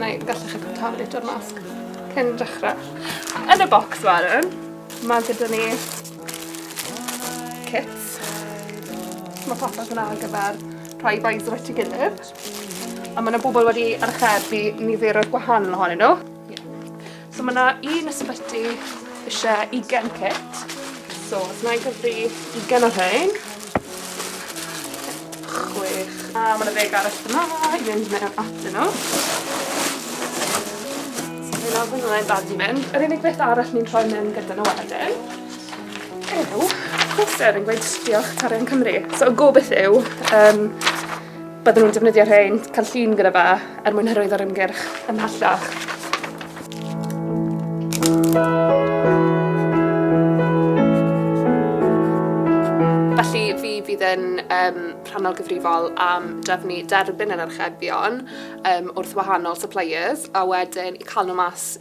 Neu gallech chi pwyta am litr masg cyn dechre. Yn y bocs wedyn ma' gyda ni kits. Ma' popeth yna ar gyfer rhoi vibes at 'i gilydd. A ma' 'na bobol wedi archebu nifer o'r gwahanol ohonyn nw. So mae yna un ysbyty eisiau 20 kit. So, os mae'n gyfri 20 o rhain. Chwech. A mae yna ddeg arall yma i fynd mewn atyn nhw. So fe nawr fydd yna'n bad i mynd. Yr unig beth arall ni'n rhoi mewn gyda nhw wedyn yw poster yn gweud diolch Tarian Cymru. So y gobeith yw um, Byddwn yn defnyddio rhain, cael llun gyda fa, er mwyn hyrwyddo'r ymgyrch ymhellach. Felly, fi fydd yn um, rhannol gyfrifol am drefnu derbyn yr archebion um, wrth wahanol suppliers a wedyn cael nhw mas